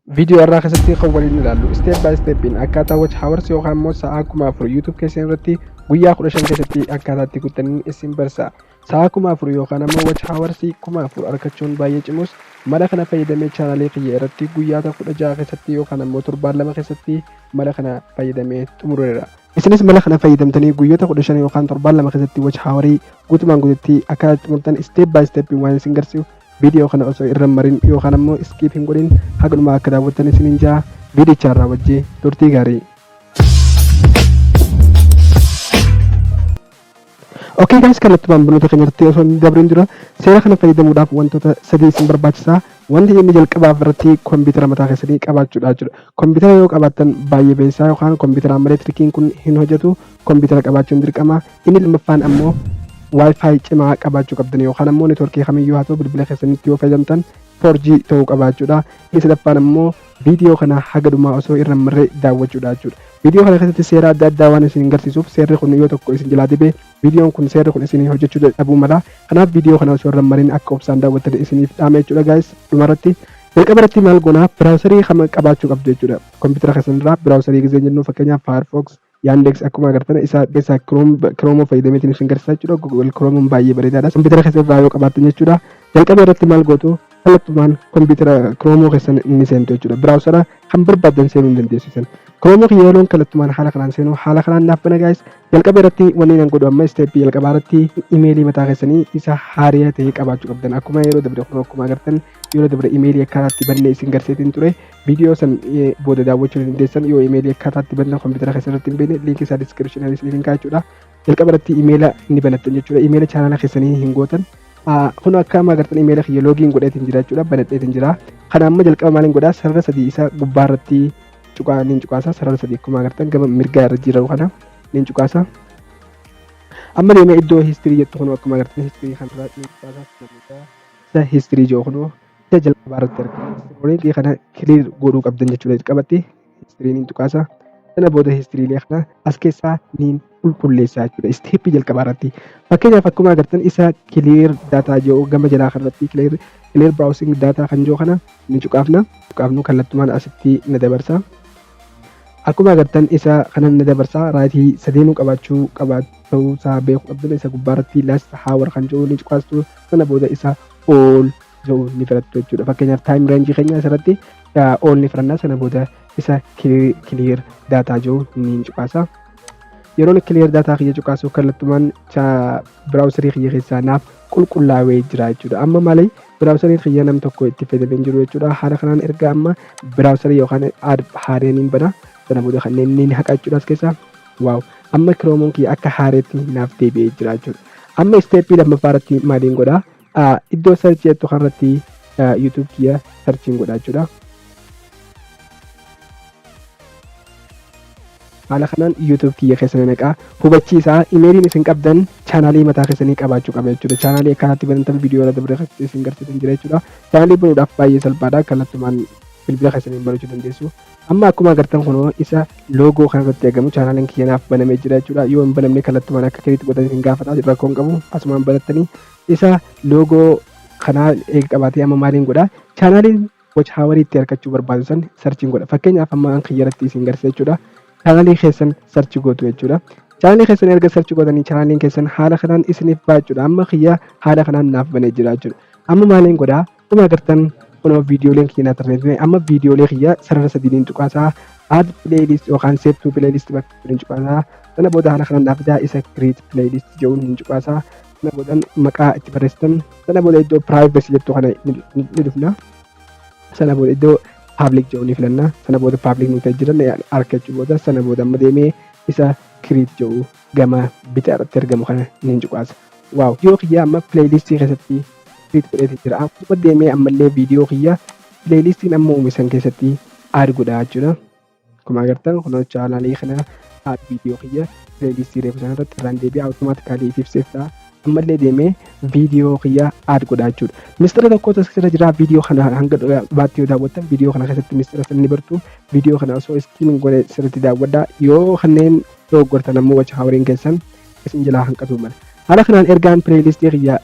Viidiyoo har'aa keessatti kan waliin ilaallu step by stepiin akkaataa watch hours yookaan immoo sa'aa kuma afur YouTube keessan irratti guyyaa kudha shan keessatti akkaataa itti guuttaniin isin barsa. Sa'aa kuma afur yookaan immoo watch hours kuma afur argachuun baay'ee cimus mala kana fayyadamee chaanaalii kiyya irratti guyyaata kudha ja'a keessatti yookaan immoo torbaan lama keessatti mala kana fayyadamee xumureera. Isinis mala kana fayyadamtanii guyyoota kudha shan yookaan torbaan lama keessatti watch hours guutumaan guututti akkaataa itti xumurtan step by stepiin waan isin garsiisu viidiyoo kana osoo irra hin marin yookaan ammoo iskiip hin godhin haga dhumaa akka daawwattan isiniin jaa viidichaan raawwajjee turtii gaarii. Okay guys kanatti maamiltoota keenyatti osoo hin dabrin dura seera kana fayyadamuudhaaf wantoota sadii isin barbaachisa. Wanti inni jalqabaaf irratti kompiitara mataa keessanii qabaachuudha jechuudha. Kompiitara yoo qabaattan baay'ee beeksisaa yookaan kompiitara amaleetirikiin kun hin hojjetu kompiitara qabaachuun dirqama. Inni lammaffaan ammoo Wi-Fi cimaa qabaachuu qabdan yookaan ammoo networkii kamiyyuu haa ta'u bilbila keessanitti yoo fayyadamtan 4G ta'uu qabaachuudha. Inni sadaffaan ammoo viidiyoo kana haga dhumaa osoo irra hin marre daawwachuudha jechuudha. Viidiyoo kana keessatti seera adda addaa waan isin garsiisuuf seerri kun yoo tokko isin jalaa dibe viidiyoon kun seerri kun isin hojjechuu dadhabuu mala. Kanaaf viidiyoo kana osoo irra hin marin akka obsaan daawwattan isiniif dhaama jechuudha gaayis dhumarratti. Jalqaba irratti maal goona biraawusarii kama qabaachuu qabdu jechuudha. Kompiitara keessanirraa biraawusarii gizee jennu fakkeenyaaf Firefox, Yandex akkuma agartan isa keessa Chrome Chrome fayyadamee isin isin garsiisaa jechuudha. Google Chrome baay'ee bareedaadha. Kompiitara keessa irraa yoo qabaattan jechuudha. Jalqaba irratti maal gootu? Kallattumaan kompiitara Chrome keessan ni seentu jechuudha. Biraawusara kan barbaaddan seenuu ni dandeessu isin. Chrome kiyya yeroon kallattumaan haala kanaan seenu haala kanaan naaf bana gaa'is. Jalqaba irratti wanni nan godhu amma isteeppii jalqabaa irratti imeelii mataa keessanii isa haariyaa ta'e qabaachuu qabdan. Akkuma yeroo dabre kun akkuma agartan yeroo dabre imeelii akkanaatti bannee isin garsiisaa ture. Viidiyoo san booda daawwachuu ni dandeessan yoo imeelii akkaataa itti banatan kompiitara keessa irratti hin beekne liinkii isaa diskiripshinaan isiniif hin kaa'a jechuudha. Jalqaba irratti imeela ni banattan jechuudha. Imeela chaanaala keessanii hin gootan. Kun akka amma agartan imeela kiyya loogiin godheetiin jira jechuudha. Banadheetiin jira. Kana amma jalqaba maaliin godhaa sarara sadii isa gubbaa irratti cuqaa niin cuqaasa sarara sadii akkuma agartan gama mirgaa irra jiru kana niin cuqaasa. Amma deemee iddoo histirii jettu kun akkuma agartan histirii kanarraa niin cuqaasa. Isa histirii jiru kun Isa jalqabaa irratti argama. Istirooniitii kana kiliir godhuu qabdan jechuudha jalqabatti. Istiriiniin tuqaasa. Sana booda istiriilee kana as keessaa niin qulqulleessaa jechuudha. Isteeppii jalqabaa irratti. Fakkeenyaaf akkuma agartan isa kiliir daataa jiru gama jalaa kanarratti kiliir kiliir biraawusiing daataa kan jiru kana ni cuqaafna. Cuqaafnu kallattumaan asitti na dabarsa. Akkuma agartan isa kanan na dabarsa raayitii sadeenuu qabaachuu qabaachuu isaa beekuu qabdan isa gubbaarratti laast haawar kan jiru ni cuqaastu sana booda isa all jedhu ni filattu jechuudha. Fakkeenyaaf time range keenya asirratti all ni filanna sana booda isa clear data jedhu ni cuqaasa. Yeroon clear data kiyya cuqaasu kallattumaan browserii kiyya keessaa naaf qulqullaa'ee jira jechuudha. Amma malee browserii kiyya nam tokko itti fayyadamee jiru jechuudha. Haala kanaan erga amma browserii yookaan aad haareen hin bana sana booda kanneen ni haqa jechuudha as keessaa. Wow amma kiroomuun kiyya akka haareetti naaf deebi'ee jira jechuudha. Amma isteeppii lammaffaa irratti maaliin godha? Ah, Iddoo sarchi jettu kanarratti YouTube kiyya sarchiin godha jechuudha. Haala kanaan YouTube kiyya keessa na naqaa. Hubachiisa imeeliin isin qabdan chaanaalii mataa keessanii qabaachuu qaba jechuudha. Chaanaalii akkanatti banatan viidiyoo irra dabre keessatti isin garsiisan jira jechuudha. Chaanaalii banuudhaaf baay'ee salphaadha. Kallattumaan bilbila keessaniin banachuu dandeessu. Amma akkuma agartan kunoo isa loogoo kana irratti argamu chaanaaliin kiyya naaf banamee jira jechuudha. Yoo hin banamne kallattumaan akka kiriitti godhanii isin gaafata rakkoo hin qabu asumaan banattanii isa loogoo kanaa eega qabaatee amma maaliin godha chaanaaliin watch hour itti argachuu barbaadu san sarchiin godha fakkeenyaaf amma an kiyya irratti isin garsiisa jechuudha. Chaanaalii keessan sarchi gootu jechuudha. Chaanaalii keessan erga sarchi gootanii chaanaaliin keessan haala kanaan isiniif ba'a jechuudha. Amma kiyya haala kanaan naaf banee jira jechuudha. Amma maaliin godhaa Akkuma agartan kunoo viidiyooleen kiyya naa tarreeffame amma viidiyoolee kiyya sarara sadiiniin cuqaasaa add playlist yookaan save to playlist bakka jedhuun cuqaasaa sana booda haala kanaan naa fidaa isa create playlist jedhuun hin cuqaasaa sana booda maqaa itti barreessitan sana booda iddoo privacy jettu kana ni dhufna sana booda iddoo public jedhu ni filanna sana booda public nuti jiran argachuu booda sana booda amma deemee isa create jedhu gama bitaa irratti argamu kana nin cuqaasa. Waaw viidiyoo kiyyaa amma pileeylistii keessatti fiit godheeti jira. Akkuma deemee ammallee viidiyoo kiyyaa pileeylistiin amma uume san keessatti aad godhaa jechuudha. Akkuma agartan kunoo chaanaalii kana aad viidiyoo kiyya pileeylistii reefu sana irratti irraan deebi'aa awutomaatikaalii ifiif seef ta'a. Ammallee deemee viidiyoo kiyyaa aad godhaa jechuudha. Mistira tokkotu as keessa jira viidiyoo kana hanga dhumaatti yoo daawwattan viidiyoo kana keessatti mistira sana ni bartu. Viidiyoo kana osoo iskiimiin godhe sirriitti daawwadhaa. Yoo kanneen dogoggortan ammoo watch houring keessan isin jalaa hanqatuu mala. Haala kanaan ergaan playlist kiyya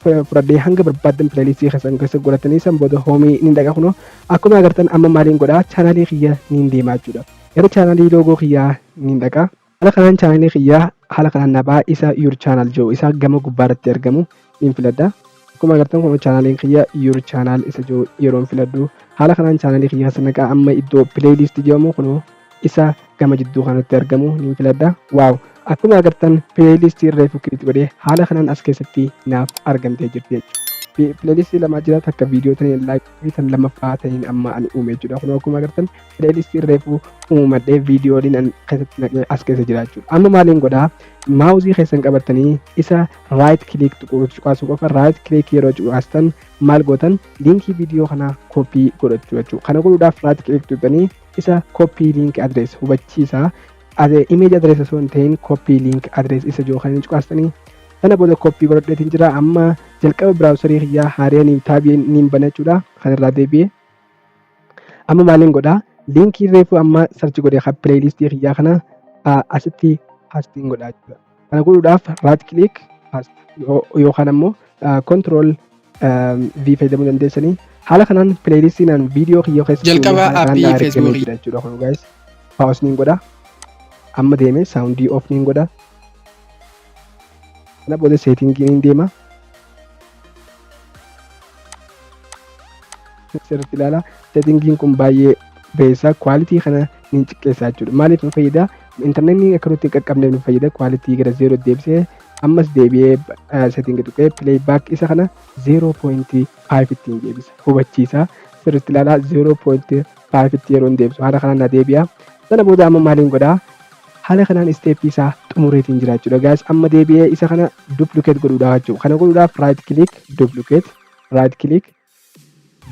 fudhadhee hanga barbaaddan playlist keessan keessa godhatanii san booda home ni dhaqa kunoo akkuma agartan amma maaliin godhaa chaanaalii kiyya niin deemaa jechuudha. Gara chaanaalii loogoo kiyyaa niin dhaqa. Haala kanaan chaanaalii kiyyaa haala kanaan nabaa isa your channel jiru isa gama gubbaa irratti argamu niin filadha. Akkuma agartan kun chaanaaliin kiyya your channel isa jiru yeroon filadhu. Haala kanaan chaanaalii kiyya keessa naqaa amma iddoo playlist jedhamu kunoo isa gama jidduu kanatti argamu niin filadha. Waaw! Akkuma agartan playlist reefu kilit godhe haala kanaan as keessatti naaf argamtee jirti jechuudha. Playlist lamaa jira takka viidiyoo taniin like fi tan lammaffaa taniin amma ani uume jechuudha. Kunoo akkuma agartan playlist reefu uumadhee viidiyooliin an keessatti naqee as keessa jira jechuudha. Amma maaliin godhaa? Maawuzii keessan qabattanii isa right click cuqaasuu qofa right click yeroo cuqaastan maal gootan liinkii viidiyoo kanaa koppii godhachuu jechuudha kana godhuudhaaf right click tuqxanii isa koppii liink adrees hubachiisa image adrees osoo hin ta'in koppii liink adrees isa jiru kan cuqaastanii sana booda koppii godhadheetiin jira amma jalqaba biraawusarii kiyyaa haariyanii taabii niin banachuudha kan irraa deebi'e amma maaliin godha liinkii reefuu amma sarchi godhe kan pileeylistii kiyyaa kana asitti paastiin godhaa jechuudha. Kana godhuudhaaf right click yookaan ammoo control V fayyadamuu dandeessanii haala kanaan pileeyilistiinaan viidiyoo kiyyoo keessatti Jalqaba haala kanaan appii na argamee Facebook. jira jechuudha kun guys paawus niin godha amma deeme saawundii off niin godha kana booda seetingii niin deema sirriitti ilaala seetingiin kun baay'ee beessa kwaalitii kana ni xiqqeessa jechuudha maaliif nu fayyada intarneetni akka nutti hin qaqqabneef nu fayyada kwaalitii gara zeeroo deebisee ammas deebi'ee seetingi tuqee pileey baak isa kana zeeroo poointii faayiv ittiin deebisa hubachiisa sirriitti ilaala zeeroo poointii faayiv itti yeroo hin deebisu haala kanaan na deebi'a sana booda amma maaliin godhaa Haala kanaan isteeppii isaa xumureetiin jira jechuudha guys. Amma deebi'ee isa kana duplicate godhuudha jechuudha. Kana godhuudhaaf right click duplicate right click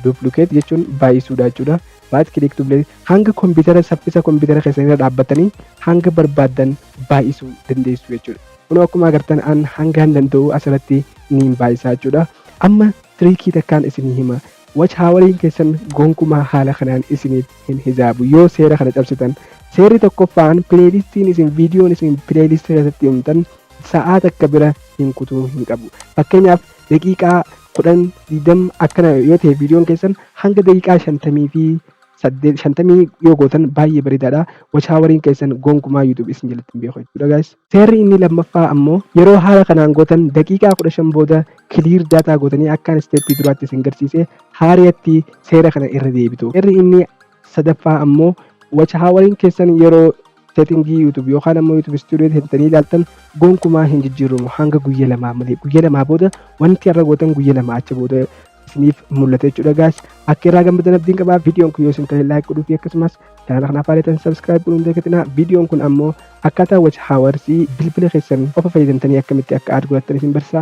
duplicate jechuun baay'isuudha jechuudha. Right click duplicate hanga kompiitara saffisa kompiitara keessanirra dhaabbattanii hanga barbaaddan baay'isuu dandeessu jechuudha. Kunoo akkuma agartan an hangaan danda'u asirratti niin baay'isaa jechuudha. Amma tiriikii takkaan isinii hima. Watch hawariin keessan gonkumaa haala kanaan isiniif hin hisaabu yoo seera kana cabsitan. Seerri tokkoffaan pileeylistiin isin viidiyoon isin pileeylistii keessatti uumtan sa'aa takka bira hin kutuu hin qabu. Fakkeenyaaf daqiiqaa kudhan digdam akkana yoo ta'e viidiyoon keessan hanga daqiiqaa shantamii fi saddeet shantamii yoo gootan baay'ee bareedaadha. Wachaawariin keessan gonkumaa YouTube isin jalatti hin beeku jechuudha guys. Seerri inni lammaffaa ammoo yeroo haala kanaan gootan daqiiqaa 15 booda clear data gootanii akkaan step duraatti isin garsiise haariyatti seera kana irra deebitu. Seerri inni sadaffaa ammoo watchhowering keessan yeroo setting YouTube yookaan ammoo YouTube studio seentanii ilaaltan gonkumaa hin jijjiiramu hanga guyya lamaa malee guyya lamaa booda wanti har'a gootan guyya lama achi booda isiniif mul'ata jechuudha gaas akka irraa gammadan abdiin qabaa viidiyoon kun yoo isin tolee laayik godhuu fi akkasumas Chaanala kanaaf haareetan subscribe godhuun dagatinaa. Viidiyoon kun ammoo akkaataa watch hours bilbila keessan qofa fayyadamtanii akkamitti akka aad godhattan isin barsiisa.